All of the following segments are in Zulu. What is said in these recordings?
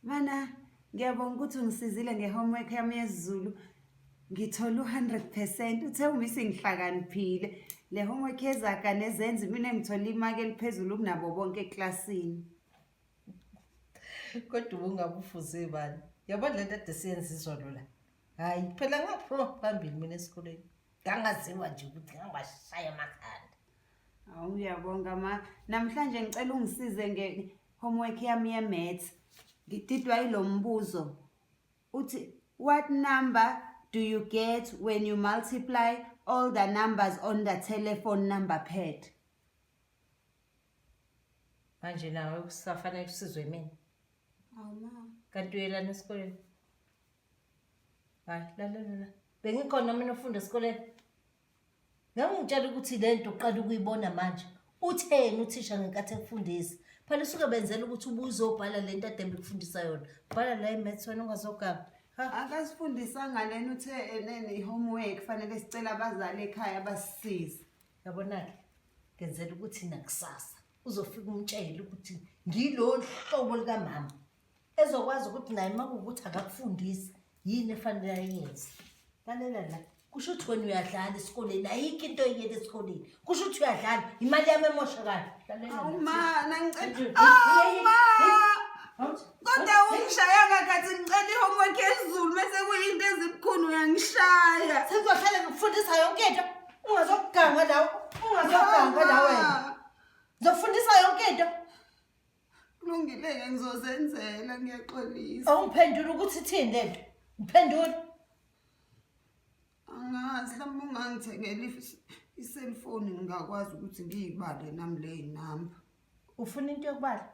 Mana ngiyabonga ukuthi ungisizile nge-homework yami yesiZulu ngithole u-hundred percent uthe uma isingihlakaniphile le homework yezaga nezenzi mina ngithole imaki eliphezulu kunabo bonke eklasini kodwa ubungabe ufuze bani yabona le nto ade siyenza izolo la hhayi phela ngaphuma phambili mina esikoleni ngangaziwa nje ukuthi ngangibashaya amakhanda Hawu ngiyabonga ma. Namhlanje ngicela ungisize nge homework yami ye maths. Ngididwa ilombuzo. Uthi what number do you get when you multiply all the numbers on the telephone number pad? Manje nawe kusafanele usizwe mina. Hawu ma. Kanti uyelana esikoleni? Hayi, la la la. Bengikhona mina ufunda esikoleni. Ngangitshela ukuthi le nto uqala ukuyibona manje. Utheni uthisha ngenkathi ekufundisa? Phela usuke benzela ukuthi ubuzobhala le nto adembe kufundisa yona. Bhala la imaths wena ungazogaba. Akasifundisanga lena uthe enene i-homework fanele sicela abazali ekhaya basisize. Yabona-ke ngenzela ukuthi nakusasa uzofika umtshele ukuthi ngilolu hlobo likamama ezokwazi ukuthi naye uma kuwukuthi akakufundisi yini efanele ayenze lalela la kusho ukuthi wena uyadlala esikoleni ayikho into oyiyela esikoleni kusho ukuthi uyadlala imali yami emoshakala kodwa ungishaya kakhathi ngicela i-homework ezulu bese kuyinto ezibukhulu uyangishaya sengizohlale ngikufundisa yonke into ungazokugangwa lawo ungazokugangwa lawo wena ngizokufundisa yonke into kulungile-ke ngizozenzela ngiyaxolisa awungiphendula ukuthi ithini le nto ngiphendula angazi hlawumbe ungangithengela iselfoni ngingakwazi ukuthi ngiyibale nami leyi namba ufuna into yokubala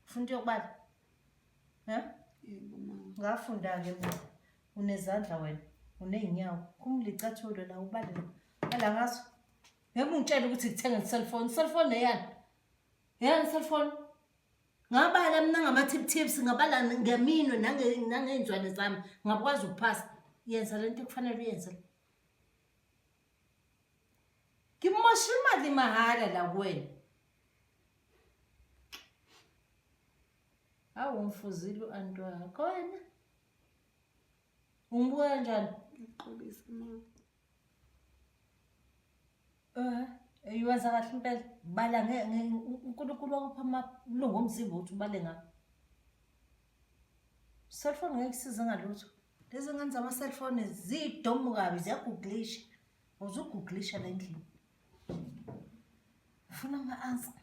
ufuna into yokubala um ngafunda-ke mna unezandla wena uney'nyawo kumlicathulo la ubalele ala ngaso ngeke ungitshele ukuthi ngithenga iselfoni iselfoni leyani Yena cellphone. Ngabala mina ngama-tip tips, ngabala ngeminwe nangey'nzwane zami, ngakwazi ukuphasa. Yenza le nto ekufanele uyenze. Ngimosha imali mahhala la kuwena. Hawu umfuzile u-anti wakho wena. Umbuka kanjani? Ngixolisa mama. Iwenza kahle impela bala uNkulunkulu wakupha amalungu omzimba ukuthi ubale ngakho. Cellphone ngeke isize ngalutho. Lezi ngane zama-cellphone ziyidomu kabi ziyaguglisha. Uzuguglisha la endlini. Ufuna ama-answer.